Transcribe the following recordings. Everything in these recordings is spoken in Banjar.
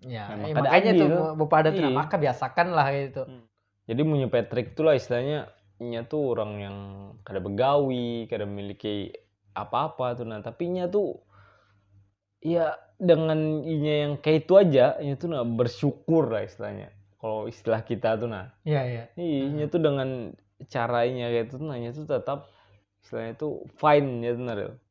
Ya, nah, maka makanya tuh gitu. bapak ada tuh, iya. maka biasakan lah gitu. Hmm. Jadi punya Patrick tuh lah istilahnya, nya tuh orang yang kada begawi, kada memiliki apa-apa tuh. Nah, tapi nya tuh ya dengan inya yang kayak itu aja, nya tuh nah bersyukur lah istilahnya. Kalau istilah kita tuh nah. Iya, iya. Iya, hmm. tuh dengan caranya kayak itu tuh nanya tuh tetap istilahnya tuh fine ya tuh Naril.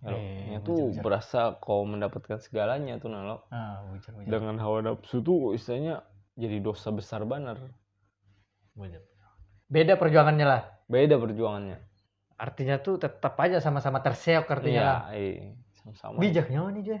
Kalau Eh, nya tuh bujur-bujur. berasa kau mendapatkan segalanya tuh nah lo. Ah, bujur bujur. Dengan hawa nafsu tuh istilahnya jadi dosa besar banar. Bujur. Beda perjuangannya lah. Beda perjuangannya. Artinya tuh tetap aja sama-sama terseok artinya Iya, lah. iya. Sama-sama. Bijak nyawa nih Joy.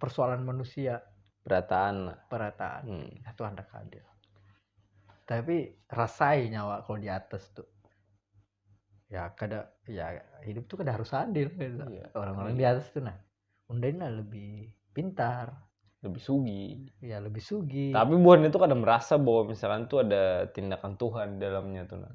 persoalan manusia perataan perataan hmm. itu anda kadil tapi rasai nyawa kalau di atas tuh ya kada ya hidup tuh kada harus adil gitu. Iya. orang-orang iya. di atas tuh nah undainya lebih pintar lebih sugi ya lebih sugi tapi buhan itu kadang merasa bahwa misalkan tuh ada tindakan Tuhan di dalamnya tuh nah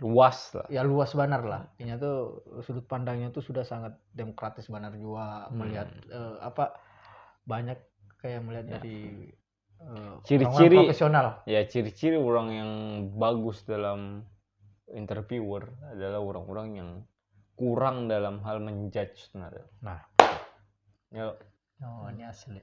luas lah. Ya luas banar lah. Inya tuh sudut pandangnya tuh sudah sangat demokratis banar jua hmm. melihat uh, apa banyak kayak melihat ya. dari uh, ciri-ciri profesional. Ya ciri-ciri orang yang bagus dalam interviewer adalah orang-orang yang kurang dalam hal menjudge sebenarnya. Nah. Ya. Oh, ini asli.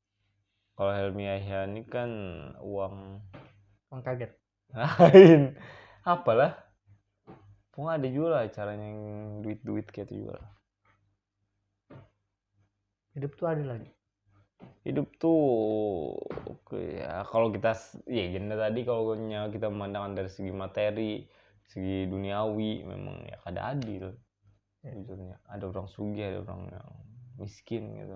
kalau Helmi Yahya ini kan uang uang kaget lain apalah pun ada juga lah caranya yang duit duit kayak itu juga hidup tuh ada lagi hidup tuh ya kalau kita ya janda tadi kalau kita memandangkan dari segi materi segi duniawi memang ya kada adil ya. ada orang sugi ada orang yang miskin gitu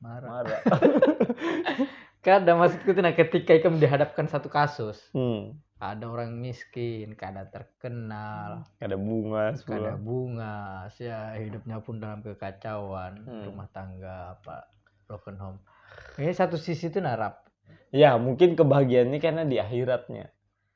marah marah kada maksudku tuh nah ketika ikam dihadapkan satu kasus hmm. ada orang miskin kada terkenal kada bunga kada bunga ya hidupnya pun dalam kekacauan hmm. rumah tangga apa broken home ini satu sisi tuh narap ya mungkin kebahagiaannya karena di akhiratnya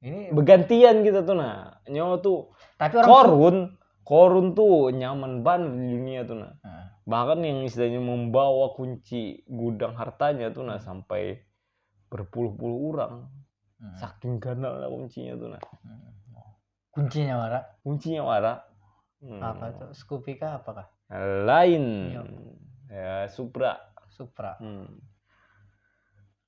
ini begantian kita tuh nah nyawa tuh tapi orang korun korun tuh nyaman banget di dunia tuh nah hmm. bahkan yang istilahnya membawa kunci gudang hartanya tuh nah sampai berpuluh-puluh orang hmm. saking ganalnya kuncinya tuh nah hmm. kuncinya wara kuncinya wara hmm. apa tuh skupika apakah lain iya. ya supra supra hmm.